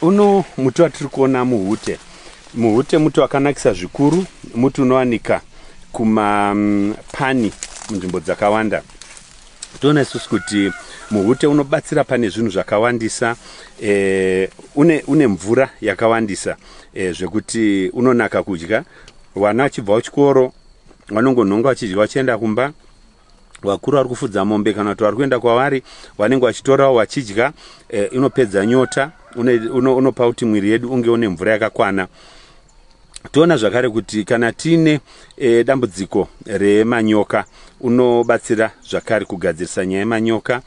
uno muti watiri kuona muhute muhute muti wakanakisa zvikuru muti unowanika kumapani mm, munzvimbo dzakawanda toona isusu kuti muhute unobatsira pane zvinhu zvakawandisa e, une, une mvura yakawandisa e, zvekuti unonaka kudya vana vachibva kuchikoro vanongonhonga vachidya vachienda kumba vakuru vari kufudza mombe kana kuti vari kuenda kwavari vanenge vachitorawo vachidya eh, inopedza nyota unopa uno, uno kuti mwiri yedu unge une mvura yakakwana toona zvakare kuti kana tiine e, dambudziko remanyoka unobatsira zvakare kugadzirisa nyaya yemanyoka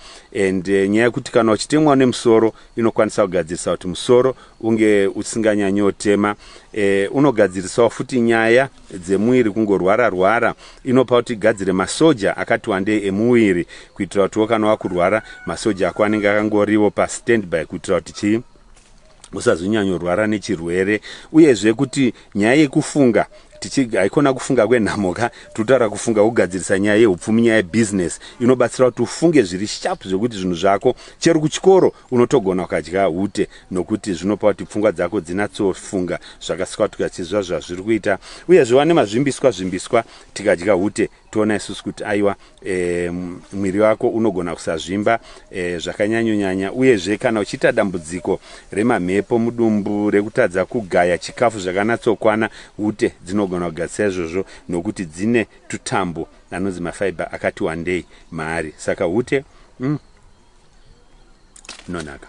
and e, nyaya yekuti kana uchitemwa nemusoro inokwanisa kugadzirisa kuti musoro unge usinganyanyotema e, unogadzirisawo futi nyaya dzemuviri kungorwara rwara inopa kuti igadzire masoja akati wandei emuviri kuitira kutiwo kana wakurwara masoja ako anenge akangoriwo pastandby kuitira kuti chii usazonyanyorwara nechirwere uyezve kuti nyaya yekufunga haikona kufunga kwenhamo ka totaura kufunga kugadzirisa nyaya yeupfumi nyaya yebusiness inobatsira kuti ufunge zviri sharp zvekuti zvinhu zvako chero kuchikoro Unotogona ukadya ute nokuti zvinopa kuti pfungwa dzako dzinatsofunga zvakaswatuka chizva zvazviri kuita uye zviwane mazvimbiswa zvimbiswa tikadya ute toona isusu kuti aiwa e, mwiri wako unogona kusazvimba e, zvakanyanyonyanya uyezve kana uchiita dambudziko remamhepo mudumbu rekutadza kugaya chikafu zvakanatsokwana ute dzinogona kugadzisa izvozvo nokuti dzine tutambo Anonzi mafibre akati wandei maari saka hute umm inonaka.